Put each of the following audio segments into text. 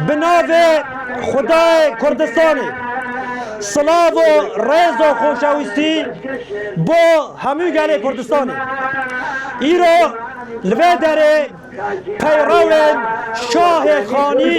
Bi navê Xwedayê Kurdistanê silav û rêz û xoşewîstî bo hemû gelê Kurdistanê. Îro li vê derê peyrawên Şahê Xanî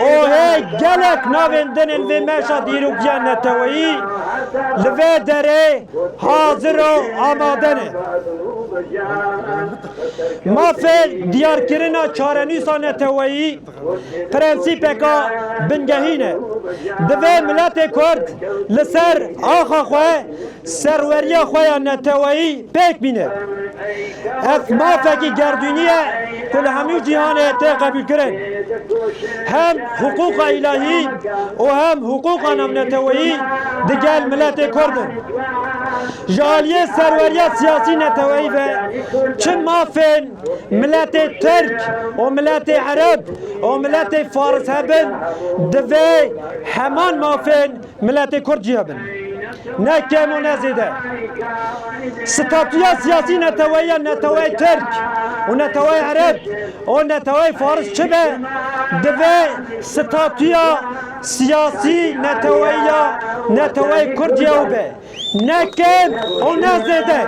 Ohê gelek navên dinên vê meşa dîrokiya neteweyî li vê derê hazir û amade ne. Mafê diyarkirina çarenûsa neteweyî prensîpeka bingehîn e. Divê miletê Kurd li ser axa xwe Serweriya xwe ya neteweyî pêk bîne. Ev mafekî gerdûnî ye ku li hemû cîhanê tê qebûlkirin. Hem hiqûqa îlahî û hem hiqûqa navneteweyî di gel miletê Kurd in. Ji aliyê serweriya siyasî neteweyî ve çi mafên miletê Tirk û miletê Ereb û miletê Faris hebin divê heman mafên Miletê Kurd ciya bin. Ne kem û ne zêde. Statuya siyasî neteweya neteweyê Tirk û neteweyê Ereb û neteweyê Faris çi be, divê statuya siyasî neteweya neteweyê Kurd ye û be. Ne kêm û ne zêde.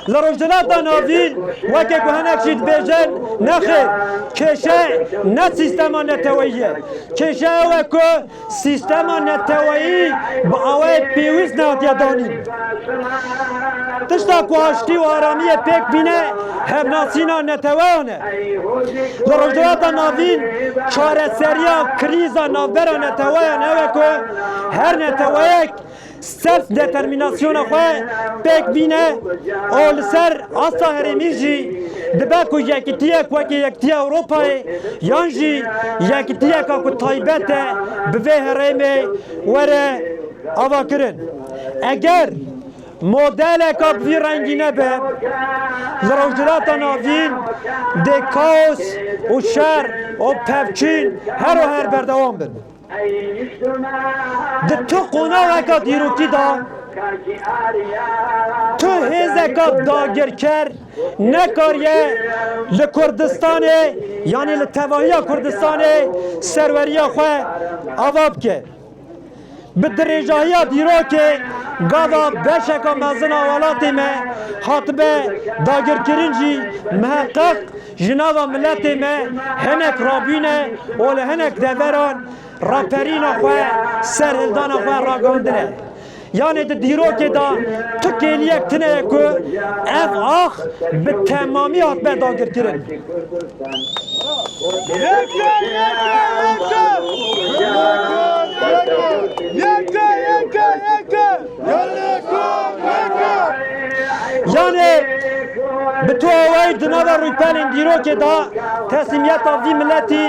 Li Rojhilata Navîn weke ku hinek jî dibêjin, nexêr, kêşe ne sîstema neteweyî ye. Kêşe ew e ku sîstema neteweyî bi awayek pêwîst nehatiye danîn. Tişta ku aştî û aramiyê pêk bîne hevnasîna neteweyan e. Di Rojhilata Navîn çareseriya krîza navbera neteweyan ew e ku her neteweyek self determînasyona xwe pêk bîne û li ser asta herêmî jî dibe ku yekitiyek wekî Yekitiya Ewropayê yan jî yekitiyeka ku taybet e bi vê herêmê were avakirin. Eger Modeleka bi vî rengî nebe li Rojhilata Navîn dê kaos û şer û pevçîn her û her berdewam bin. Di tu qonaxeka dîrokî de tu hêzeka dagirker nekariye li Kurdistanê yanî li tevahiya Kurdistanê serweriya xwe ava bike. Bi dirêjahiya dîrokê gava beşeka mezin a welatê me hatibe dagirkirin jî miheqeq ji nava miletê me hinek rabûne û li hinek deveran raperîna xwe, serhildana xwe ragandine. Yanê di dîrokê de tu kêliyek tune ye ku ev ax bi temamî hatibûye dagirkirin. Yanê bi tu awayî di nava rûypelên dîrokê de teslîmiyeta vî miletî,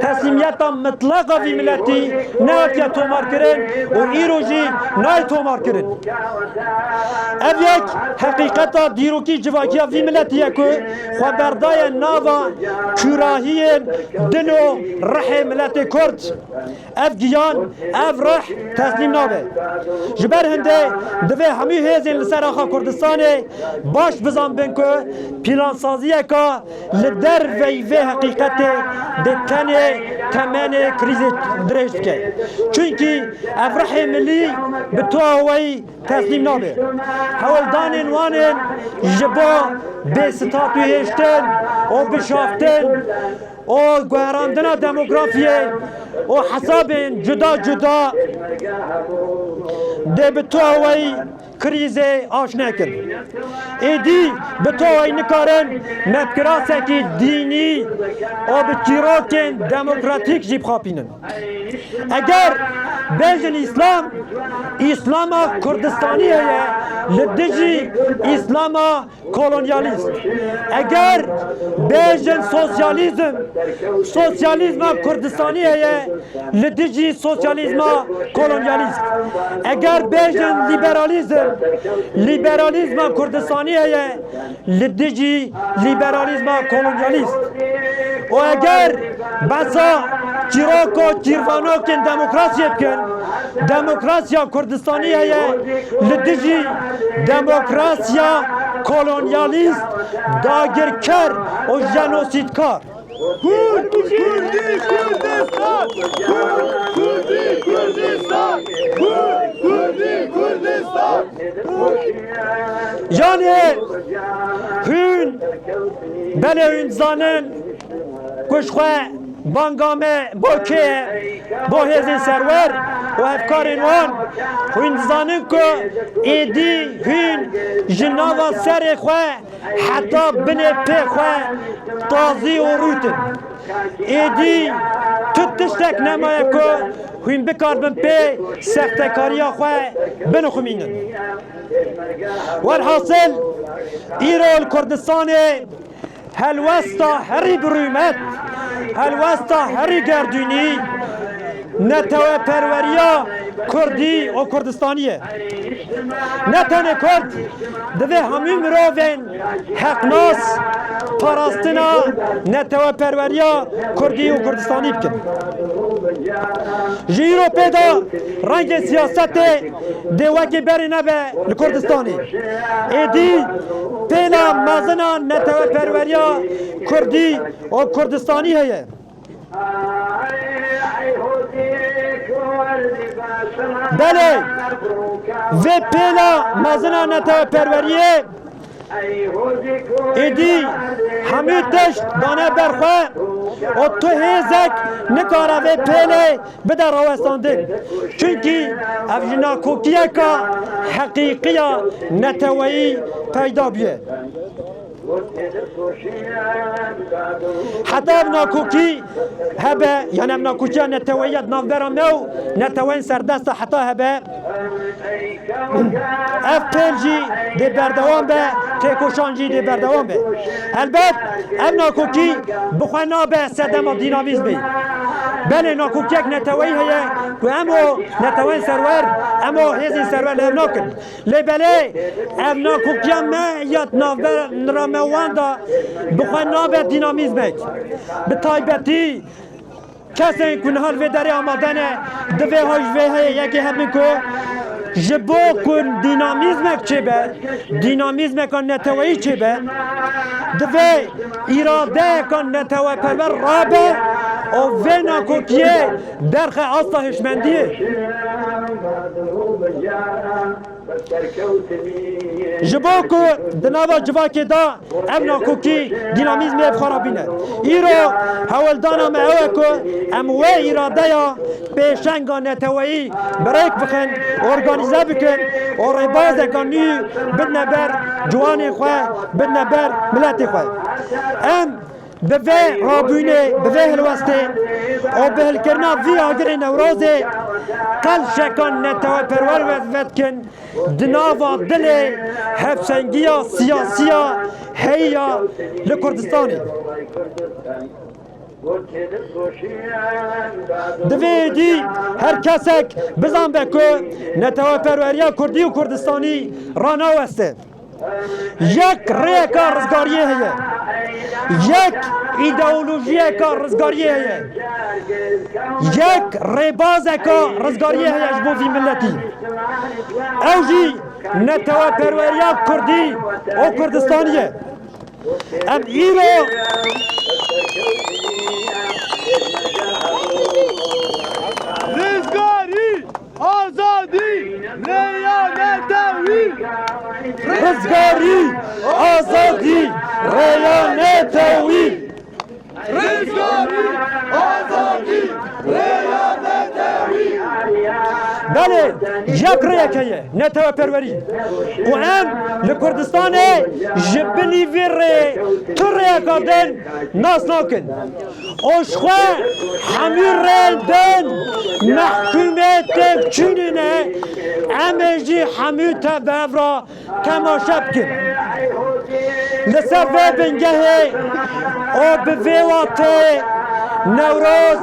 Teslimiyeta mitlaq a vî miletî nehatiye tomarkirin û îro jî nayê tomarkirin. Ev yek heqîqeta dîrokî civakiya vî miletî ye ku xwe berdaye nava kûrahiyên dil û rihê miletê kurd. Ev giyan, ev rih teslîm nabe. Ji ber hindê divê hemû hêzên li ser axa Kurdistanê baş bizanbin ku pîlansaziyeke Li derveyî vê heqîqetê dê tenê temenê krîzê dirêj bike. Çunkî ev rihê milî bi tuha weyî teslîm nabe. Hewldanên wan ên ji bo bêstatûhêştin û bişaftin û guherandina demografiyê û hesabên cuda cuda dê bi tuha weyî Krîzê aş nekin. Êdî bi toyê nikarin me bi kirasekî dînî û bi çîrokên demokratîk jî bixapînin. Eger bêjin Îslam, Îslama Kurdistanî heye li dijî Îslama Kolonyalîst, Eger bêjin sosyalîzm, sosyalîzma Kurdistanî heye li dijî sosyalîzma kolonyalîst. Eger bêjin lîberalîzm, lîberalîzma Kurdistanî heye li dijî lîberalîzma kolonyalîst. Û eger behsa çîrok û çîrvanokên demokrasiyê bikin, demokrasiya Kurdistanî heye li dijî Demokrasiya kolonyalîst, dagirker û jenosîdkar. Yanê hûn belê hûn dizanin. Ku ji xwe banga me bo kê ye? Bo hêzên serwer û hevkarên wan. Hûn dizanin ku êdî hûn ji nava serê xwe heta binê pê xwe tazî û rût in. Êdî tu tiştek nemaye ku hûn bikaribin pê sextekariya xwe binixumînin. Welhasil îro li Kurdistanê Helwesta herî bi rûmet, helwesta herî gerdûnî neteweperweriya Kurdî û Kurdistanî ye. Ne tenê Kurd divê hemû mirovên heqnas parastina neteweperweriya Kurdî û Kurdistanî bikin. Ji îro pê de rengê siyasetê Dê wekî berî nebe li Kurdistanê. Êdî têna mezina neteweperweriya Kurdî û Kurdistanî heye. Belê vê pêna mezina neteweperweriyê Êdî hemû tişt dane ber xwe û tu hêzek nikare vê pêlê bide rawestandin. Çunkî ev ji nakokiyeke heqîqî ya neteweyî peyda bûye. Heta ev nakokî hebe yan ev nakokiya neteweyî ya di navbera me û neteweyên serdest de heta hebe, Ev pêl jî dê berdewam be, têkoşan jî dê berdewam be. Helbet ev nakokî bi xwe nabe sedema dînamîzmê. Belê nakokiyek neteweyî heye ku hemo neteweyên serwer, hemo hêzên serwer li hev nakin. Lê belê ev nakokiya me ya di navbera me wan de bi xwe nabe dînamîzmek. Bi taybetî Kesên ku niha li vê derê amade ne, divê ha ji vê heyê yekê hebin ku ji bo ku dînamîzmek çêbe, dînamîzmeka neteweyî çêbe, divê îradeyeka neteweperwer rabe û vê nakokiyê derxe asta hişmendiyê. Ji bo ku di nava civakê de ev nakokî dînamîzmê ev xwe rabîne. Îro heweldana me ew e ku em wê îradeya pêşenga neteweyî bi rêk bixin, organîze bikin û rêbazeke nû bidine ber ciwanên xwe, bidine ber miletê xwe. Em. Bi vê rabûnê, bi vê hilwestê û bi hilkirina vî agirê Newrozê qel şekan neteweperwer ve ve dikin di nava dilê hevşengiya siyasî ya heyî ya li Kurdistanê. Divê êdî her kesek bizanbe ku neteweperweriya Kurdî û Kurdistanî ranaweste. Yek rêyeka rizgariyê heye. Yek îdeolojiyeka rizgariyê heye. Yek rêbazeka rizgariyê heye ji bo vî miletî. Ew jî neteweperweriya Kurdî û Kurdistanî ye. Em îro Rizgarî! Azadî rêya netewî. Rizgarî azadî rêya netewî. Rizgarî azadî rêya netewî. Belê yek rêyeke ye neteweperwerî û em li Kurdistanê ji binî vê rêyê tu rêyeka din nas nakin. Oşxwe hemî rê bin mehkûmê têkçûnîne em ê jî hemî te bi ev re temaşe bikin. Li ser vê bingehê û bi vê wateyê Newroz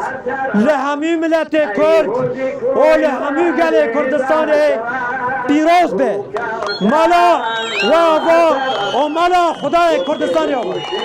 li hemî miletê Kurd û li hemî gelê Kurdistanê pîroz be. Mala we ava û mala xwedayê Kurdistanê ava.